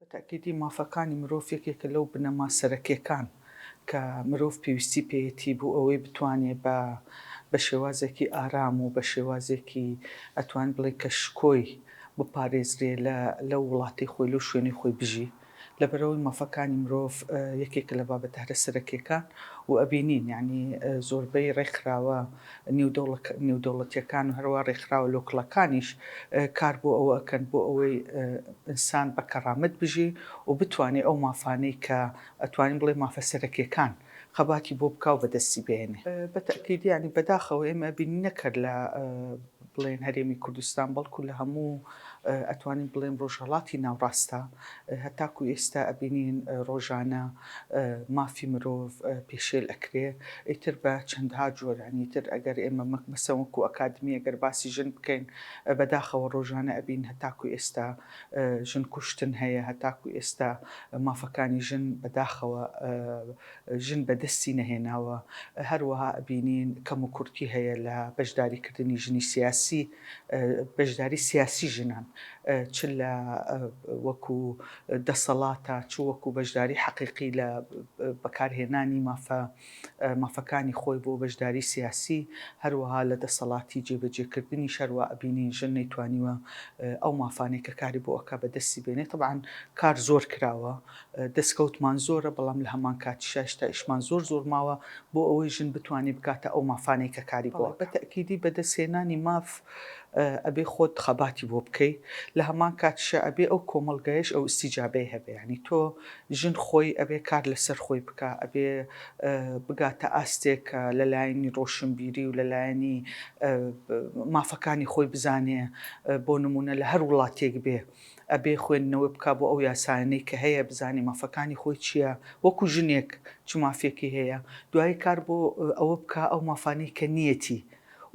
بە تەئکیدی مافەکانی مرۆڤ یەکێکە لەو بنەما سەرەکیەکان کە مرۆڤ پێویستی پێیەتی بو ئەوەی بتوانێ بە بە شێوازێکی ئارام و بە شێوازێکی ئەتوانین بڵێین کە شکۆی بپارێزرێ لە لەو وڵاتەی خۆی لەو شوێنەی خۆی بژی لەبەرئەوەی مافەکانی مرۆڤ یەکێکە لە بابەتە هەرە سەرەکیەکان و ئەبینین یانی زۆربەی ڕێکخراوە نێودەوڵەتیەکان و هەروا ڕێکخراوە لۆکڵەکانیش کار بۆ ئەوە ئەکەن بۆ ئەوەی ئینسان بە کەڕامەت بژی و بتوانێ ئەو مافانەی کە ئەتوانین بڵێ مافە سەرەکیەکان خەباتی بۆ بکاو بەدەستی بێنێ. بە تەئکید یانی بەداخەوە ئێمە بینینە کەر لە. بڵێن هەرێمی کوردستان بەڵکو لە هەموو ئەتوانین بڵێن ڕۆژهەڵاتی ناوڕاستە هەتاکو ئێستا ئەبینین ڕۆژانە مافی مرۆڤ پێشێل ئەکرێ ئیتر بە چەندها جۆرانی تر ئەگەر ئێمە مەک مەسەوەکو ئەکادمی ئەگەر باسی ژن بکەین بەداخەوە ڕۆژانە ئەبین هەتاکو ئێستا ژن کوشتن هەیە هەتاکو ئێستا مافەکانی ژن بەداخەوە ژن بەدەستی نەهێناوە، هەروەها ئەبینین کەموکورتی هەیە لە بەشداری کردنی ژنی سیاسی، بەشداری سیاسی ژنان چ لە وەکو دەسەڵاتە چ وەکو بەشداری حەقیقی لە بەکارهێنانی مافە مافەکانی خۆی بۆ بەشداری سیاسی، هەروەها لە دەسەڵاتی جێبەجێ کردنیش هەروا ئەبینین ژن نەیتوانیوە ئەو مافانەی کە کاری بۆ ئەکا بەدەستی بێنێ، تەبعەن کار زۆر کراوە دەسکەوتمان زۆرە بەڵام لە هەمان کاتیشا هێشتا ئیشمان زۆر زۆر ماوە بۆ ئەوەی ژن بتوانێ بگاتە ئەو مافانەی کە کاری بۆ ئەکا. بە تەئکیدی بەدەست هێنانی ماف ئەبێ خۆت خەباتی بۆ بکەی لە هەمان کاتیشا ئەبێ ئەو کۆمەڵگایەش ئەو ئیستیجابەی هەبێ یانی تۆ ژن خۆی ئەبێ کار لە سەر خۆی بکا ئەبێ بگاتە ئاستێک کە لە لایەنی ڕۆشنبیری و لە لایەنی مافەکانی خۆی بزانێ بۆ نموونە لە هەر وڵاتێک بێ ئەبێ خوێندنەوە بکا بۆ ئەو یاسایانەی کە هەیە بزانێ مافەکانی خۆی چیە وەکو ژنێک چ مافێکی هەیە دوایی کار بۆ ئەوە بکا ئەو مافانەی کە نیەتی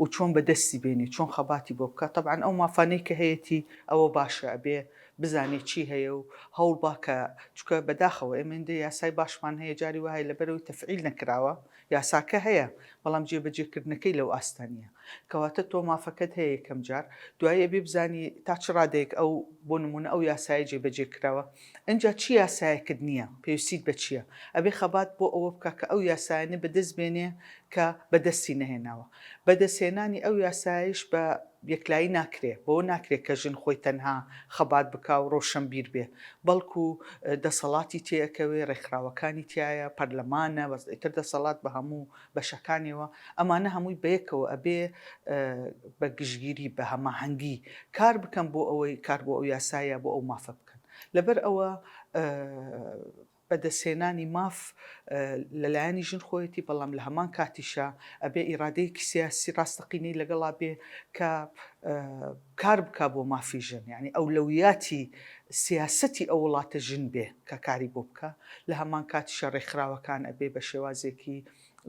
و چۆن بە دەستی بێنێ چۆن خەباتی بۆ بکا تەبعەن ئەو مافانەی کە هەیەتی ئەوە باشە ئەبێ بزانێ چی هەیە و هەوڵ با کە چونکە بەداخەوە ئێمە هێندە یاسای باشمان هەیە جاری وایە لەبەرئەوەی تەفعیل نەکراوە یاساکە هەیە، بەڵام جێبەجێکردنەکەی لەو ئاستە نییە. کەواتە تۆ مافەکەت هەیە یەکەم جار، دوایی ئەبێ بزانی تا چ ڕادەیەک ئەو بۆ نموونە ئەو یاسایە جێبەجێ کراوە. ئینجا چ یاسایەکت نییە، پێویستیت بە چییە. ئەبێ خەبات بۆ ئەوە بکا کە ئەو یاسایانە بەدەست بێنێ کە بەدەستی نەهێناوە. بەدەستهێنانی ئەو یاسایەیش بە یەکلایی ناکرێ، بەوە ناکرێ کە ژن خۆی تەنها خەبات بکا و ڕۆشەنبیر بێ، بەڵکو دەسەڵاتی تێ ئەکەوێ، ڕێکخراوەکانی تیایە، پەرلەمانە، بەس ئیتر دەسەڵات بە هەموو بەشەکانیەوە، ئەمانە هەمووی بەیەکەوە ئەبێ بە گشتگیری، بە هەماهەنگی کار بکەن بۆ ئەوەی کار بۆ ئەو یاسایە، بۆ ئەو مافە بکەن. لەبەر ئەوە. بەدەستهێنانی ماف لەلایەنی ژن خۆیەتی بەڵام لە هەمان کاتیشا ئەبێ ئیرادەیەکی سیاسی ڕاستەقینەی لەگەڵا بێ کە کار بکا بۆ مافی ژن یانی ئەولەویاتی سیاسەتی ئەو وڵاتە ژن بێ کە کاری بۆ بکا لە هەمان کاتیشا ڕێکخراوەکان ئەبێ بە شێوازێکی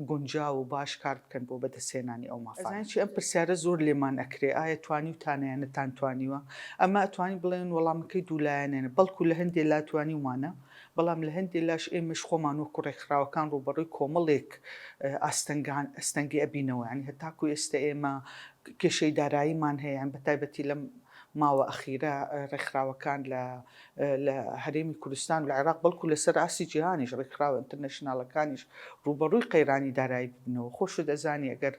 گونجاو و باش کار بکەن بۆ بەدەستهێنانی ئەو مافانە. ئەزانن چی ئەم پرسیارە زۆر لێمان ئەکرێ ئایا توانیوتانە یان نەتانتوانیوە؟ ئەمە ئەتوانین بڵێن وەڵامەکەی دوو لایەنەنە بەڵکو لە هەندێ لا توانیومانە بەڵام لە هەندێ لاش ئێمەش خۆمان وەکو ڕێکخراوەکان ڕووبەڕووی کۆمەڵێک ئاستەنگان ئەستەنگی ئەبینەوە یانی هەتاکو ئێستە ئێمە کێشەی داراییمان هەیە یان بەتایبەتی لەم ماوە ئەخیرە ڕێکخراوەکان لە لە هەرێمی کوردستان و لە عێراق بەڵکو لەسەر ئاستی جیهانیش ڕێکخراوە ئینتەرنەشناڵەکانیش ڕووبەڕووی قەیرانی دارایی ببنەوە خۆشت ئەزانی ئەگەر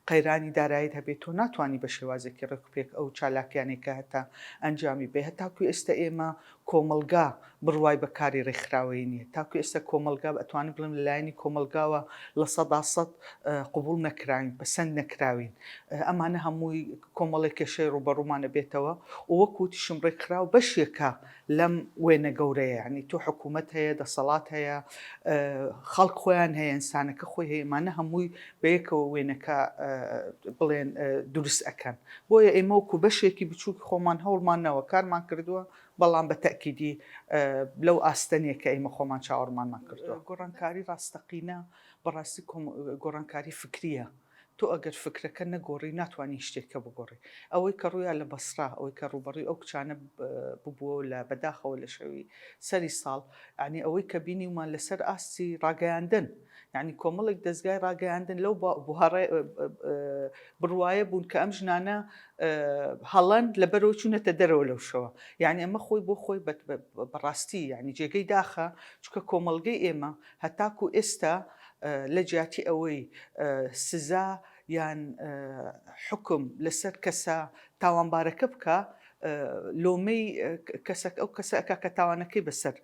قەیرانی دارایت هەبێت تۆ ناتوانانی بە شێوازێکی ڕێکوپێک ئەو چالاکیانەی کە هەتە ئەنجامی بێ هەتاکو ئێستا ئێمە کۆمەڵگا بڕوای بە کاری ڕێکخراوەیی نییە تاکو ئێستا کۆمەڵگا ئەتوانم بڵێم لەلایەنی کۆمەڵگاوە لە سەدا سەد قبوڵ نەکراوین پەسەند نەکراوین ئەمانە هەمووی کۆمەڵێک کێشەی ڕووبەڕوومان ئەبێتەوە و وەک وتیشم ڕێکخراو بەشێکە لەم وێنە گەورەیە یانی تۆ حکوومەت هەیە دەسەڵات هەیە خەڵک خۆیان هەیە ئینسانەکە خۆی هەیە ئەمانە هەمووی بەیەکەوە وێنەکە بڵێن دروست ئەکەن بۆیە ئێمە وەکو بەشێکی بچووک خۆمان هەوڵمان نەوە کارمان کردووە بەڵام بە تەکیدی لەو ئاستەنیە کە ئێمە خۆمان چاوەڕمانمان کردووە گۆڕانکاری ڕاستەقینە بەڕاستی گۆڕانکاری فکریە تۆ ئەگەر فکرەکە نەگۆڕی ناتوانی هیچ شتێکە بگۆڕی ئەوەی کە ڕویا لە بەسرا ئەوەی کە ڕوبەڕی ئەو کچانە ببووەوە لە بەداخەوە لە شەوی سەری ساڵ عنی ئەوەی کە بینیومان لەسەر ئاستی ڕاگەیاندن عنی کۆمەڵێک دەستگای ڕاگەیاندن لەو بوهڕێ بڕواە بوون کە ئەم ژنانە هەڵەن لە بەرەوە چوونەتە دەرەوە لەو شەوە یعنی ئەمە خۆی بۆ خۆی بەڕاستی ینی جێگەی داخە چکە کۆمەلگەی ئێمە هەتاکو ئێستا لە جیاتی ئەوەی سزا یان حوکم لەسەر کەسە تاوانبارەکە بکا، لۆمەی کەسەک ئەو کەسە ئەکا کە تاوانەکەی بەسەر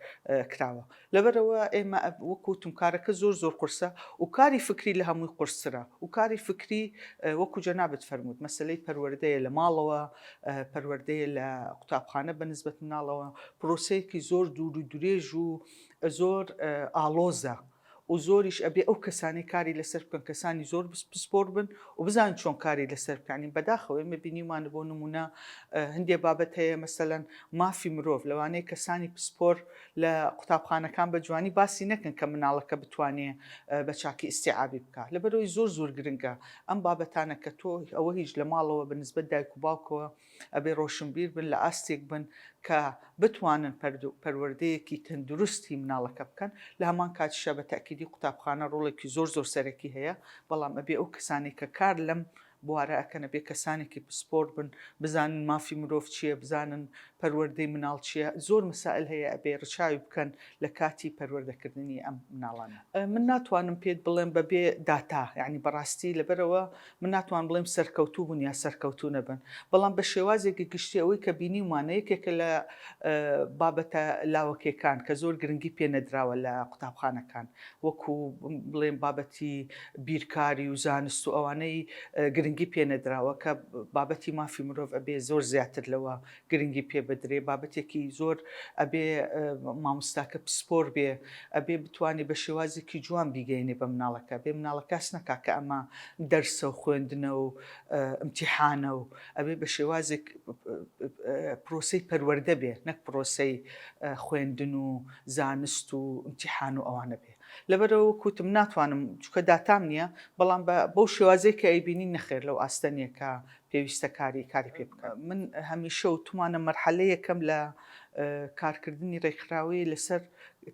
کراوە. لەبەرئەوە ئێمە وەکو وتم کارەکە زۆر زۆر قورسە و کاری فکری لە هەمووی قورسترە و کاری فکری وەکو جەنابت فەرمووت مەسەلەی پەروەردەیە لە ماڵەوە، پەروەردەیە لە قوتابخانە بە نسبەت مناڵەوە، پرۆسەیەکی زۆر دوور و درێژ و زۆر ئاڵۆزە. و زۆریش ئەبێ ئەو کەسانەی کاری لەسەر بکەن کەسانی زۆر پسپۆر بن و بزان چۆن کاری لەسەر بکانین بەداخەوە ئێمە بینیمانە بۆ نمونە هەندێ بابەت هەیە مەسەەن مافی مرۆڤ لەوانەیە کەسانی پسپۆر لە قوتابخانەکان بە جوانی باسی نەکەن کە مناڵەکە بتوانێ بە چاکی ئیسیعابی بکە لەبەرەوەی زۆر زۆر گرنگە ئەم بابەتانە کە تۆ ئەوە هیچ لە ماڵەوە بە نسبەت دایک و باوکەوە ئەبێ ڕۆشنبیر بن لە ئاستێک بن کە بتوانن پەروەردەیەکی تەندروستی مناڵەکە بکەن لە هەمان کاتیشا بە تەئکیدی قوتابخانە ڕۆڵێکی زۆر زۆر سەرەکی هەیە بەڵام ئەبێ ئەو کەسانەی کە کار لەم بوارە ئەکەن ئەبێ کەسانێکی پسپۆر بن بزانن مافی مرۆڤ چییە بزانن پەروەردەی مناڵ چییە زۆر مسائل هەیە ئەبێ ڕچاوی بکەن لە کاتی پەروەردەکردنی ئەم مناڵانە. من ناتوانم پێت بڵێم بەبێ داتا یانی بەڕاستی لەبەرەوە من ناتوانم بڵێم سەرکەوتوو بوون یا سەرکەوتوو نەبن، بەڵام بە شێوازێکی گشتی ئەوەی کە بینیومانە یەکێکە لە بابەتە لاوەکێکان کە زۆر گرنگی پێ نەدراوە لە قوتابخانەکان وەکو بڵێم بابەتی بیرکاری و زانست و ئەوانەی گرنگی پێ نەدراوە کە بابەتی مافی مرۆڤ ئەبێ زۆر زیاتر لەوە گرنگی پێ بدرێ بابەتێکی زۆر ئەبێ ماموستاکە پسپۆر بێ ئەبێ بتوانێ بە شێوازێکی جوان بیگەینێ بە مناڵەکە بێ مناڵە کاس نەکا کە ئەمە دەرسە و خوێندنە و امتیحانە و ئەبێ بە شێوازێک پرۆسی پەروەەردە بێ نەک پرۆسی خوێندن و زانست و امتیحان و ئەوانە بێ لەبەرەوە کوتم ناتوانم چکە داتام نییە بەڵام بەو شێوازێک کە ئەیبینی نەخێر لەو ئاستەنیەکە پێویستە کاری کاری پێ بکەن. من هەمیشە وتومانە مەرحەلە یەکەم لە کارکردنی ڕێکخراوەیە لەسەر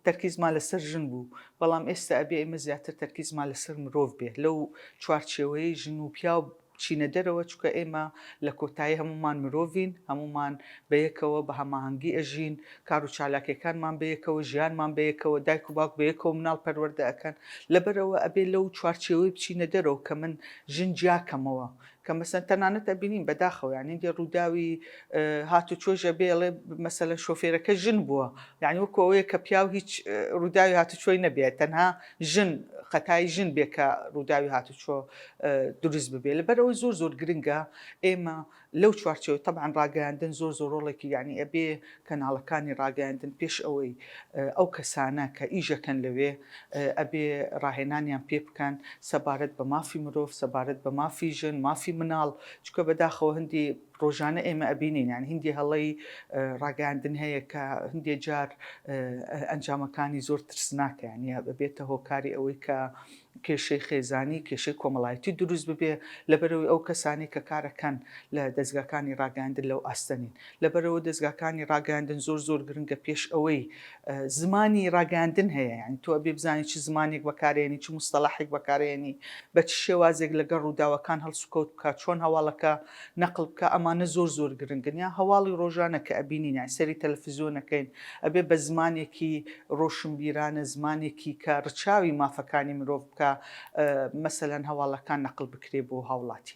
تەرکیزمان لەسەر ژن بوو بەڵام ئێستا ئەبێ ئێمە زیاتر تەرکیزمان لەسەر مرۆڤ بێ لەو چوارچێوەیە ژن و پیاو چینە دەرەوە چکە ئێمە لە کۆتایی هەمومان مرۆڤین هەمومان بەیەکەوە بە هەماهەنگی ئەژین کار و چالاکەکانمان بەیەکەوە ژیانمان بەیەکەوە دایک و باوک بەیەکەوە مناڵ پەروەردە ئەەکەن لەبەرەوە ئەبێ لەو چوارچێوەی بچینە دەرەوە کە من ژن جیاکەمەوە کە مەسەلەن تەنانەت ئەبینین بەداخەوە یانی هەندێ ڕووداوی هاتوچۆش ئەبێ ئەڵێ مەسەلەن شۆفێرەکە ژن بووە، یانی وەکۆ ئەوەیە کە پیاو هیچ ڕووداوی هاتوچۆی نەبێت تەنها ژن خەتای ژن بێ کە ڕووداوی هاتوچۆ دروست ببێ لەبەر ئەوەی زۆر زۆر گرنگە ئێمە لەو چوارچێوەی تەبعەن ڕاگەیاندن زۆر زۆر ڕۆڵێکی یانی ئەبێ کەناڵەکانی ڕاگەیاندن پێش ئەوەی ئەو کەسانە کە ئیژەکەن لەوێ ئەبێ ڕاهێنانیان پێ بکەن سەبارەت بە مافی مرۆڤ سەبارەت بە مافی ژن مافی مناڵ چکە بەداخەوە هەندی ڕۆژانە ئێمە ئەبینین یان هندی هەڵەی ڕاگەیاندن هەیە کە هندێ جار ئەنجامەکانی زۆر ترسناکە یانە ببێتە هۆکاری ئەوەی کە کێشەی خێزانی، کێشەی کۆمەڵایەتی دروست ببێ، لەبەرئەوەی ئەو کەسانەی کە کارەکەن لە دەزگاکانی ڕاگەیاندن لەو ئاستە نین. لەبەرئەوە دەزگاکانی ڕاگەیاندن زۆر زۆر گرنگە پێش ئەوەی زمانی ڕاگەیاندن هەیە یانی تۆ ئەبێ بزانی چ زمانێک بەکارێنی چ موستەڵاحێک بەکارێنی بە چ شێوازێک لەگەڵ ڕووداوەکان هەڵسوکەوت بکا چۆن هەواڵەکە نەقل بکە ئەمانە زۆر زۆر گرنگن یان هەواڵی ڕۆژانە کە ئەبینین یان سەیری تەلەفزیۆن ئەکەین ئەبێ بە زمانێکی ڕۆشنبیرانە زمانێکی کە ڕچاوی مافەکانی مرۆڤ بکا مەسەلەن هەواڵەکان نەقل بکرێ بۆ هاوڵاتی.